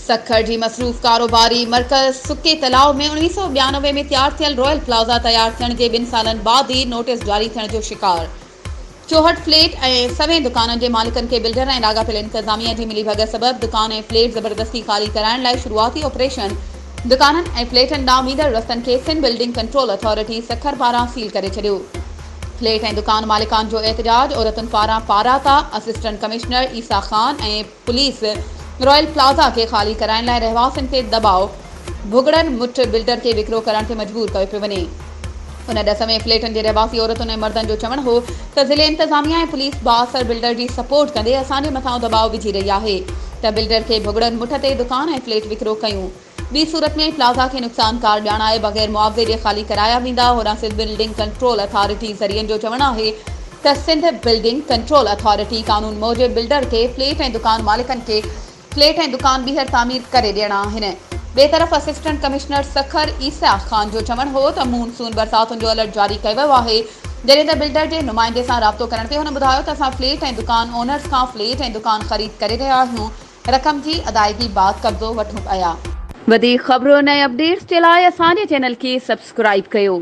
سکر جي مصروف ڪاروباري مرڪز سڪي تلاء ۾ اڻويهه سؤ ٻيانوي ۾ تيار ٿيل رويل پلازا تيار ٿيڻ جي ٻن سالن بعد ئي نوٽيس جاري ٿيڻ جو شڪار چوهٺ فليٽ ۽ سوين دڪانن جي مالڪن کي بلڊر ۽ لاڳاپيل انتظاميه جي ملي ڀڳت سبب دڪان ۽ فليٽ زبردستي خالي ڪرائڻ لاء شروعاتي آپريشن دڪانن ۽ فليٽن ڏانهن ويندڙ رستن کي Sindh building control authority Sukkur پاران سيل ڪري ڇڏيو فليٽ ۽ دڪان مالڪان جو احتجاج عورتن پاران پاراتا assistant commissioner Essa Khan ۽ police Royal Plaza کي خالي ڪرائڻ لاء رهواسين تي دٻاء ڀڳڙڻ مٺ بلڊر کي وڪرو ڪرڻ تي مجبور ڪيو پيو وڃي ان ڏس ۾ فليٽن جي رهواسي عورتن ۽ مردن جو چوڻ هو ته ضلعي انتظاميه ۽ پوليس بااثر بلڊر جي سپورٽ ڪندي اسان جي مٿان دٻاء وجهي رهي آهي ته بلڊر کي ڀڳڙن مٺ تي دڪان ۽ فليٽ وڪرو ڪيون ٻي صورت ۾ پلازا کي نقصان ڪار ڄاڻائي بغير معاوضي جي خالي ڪرايا ويندا. هوڏانهن سنڌ بلڊنگ ڪنٽرول اٿارٽي ذريعن جو چوڻ آهي ته سنڌ بلڊنگ ڪنٽرول اٿارٽي قانون موجب بلڊر کي فليٽ ۽ دڪان مالڪن کي فليٽ ۽ دڪان ٻيهر تعمير ڪري ڏيڻا آهن. ٻئي طرف اسسٽنٽ ڪمشنر سکر عيسيٰ خان جو چوڻ هو ته مون سون برساتن جو الرٽ جاري ڪيو ويو آهي جڏهن ته بلڊر جي نمائندي سان رابطو ڪرڻ تي هن ٻڌايو ته اسان فليٽ ۽ دڪان اونرز کان فليٽ ۽ دڪان خريد ڪري رهيا آهيون رقم جي ادائگي بعد قبضو وٺون پيا. وڌيڪ خبرن ۽ اپڊيٽس جي لاء اسان جي چينل کي سبسڪرائيب ڪيو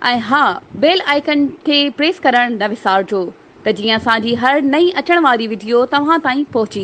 ۽ ها بيل آئيڪن کي پريس ڪرڻ نه وسارجو ته جيئن اسان جي هر نئين اچڻ واري وڊيو توهان تائين پهچي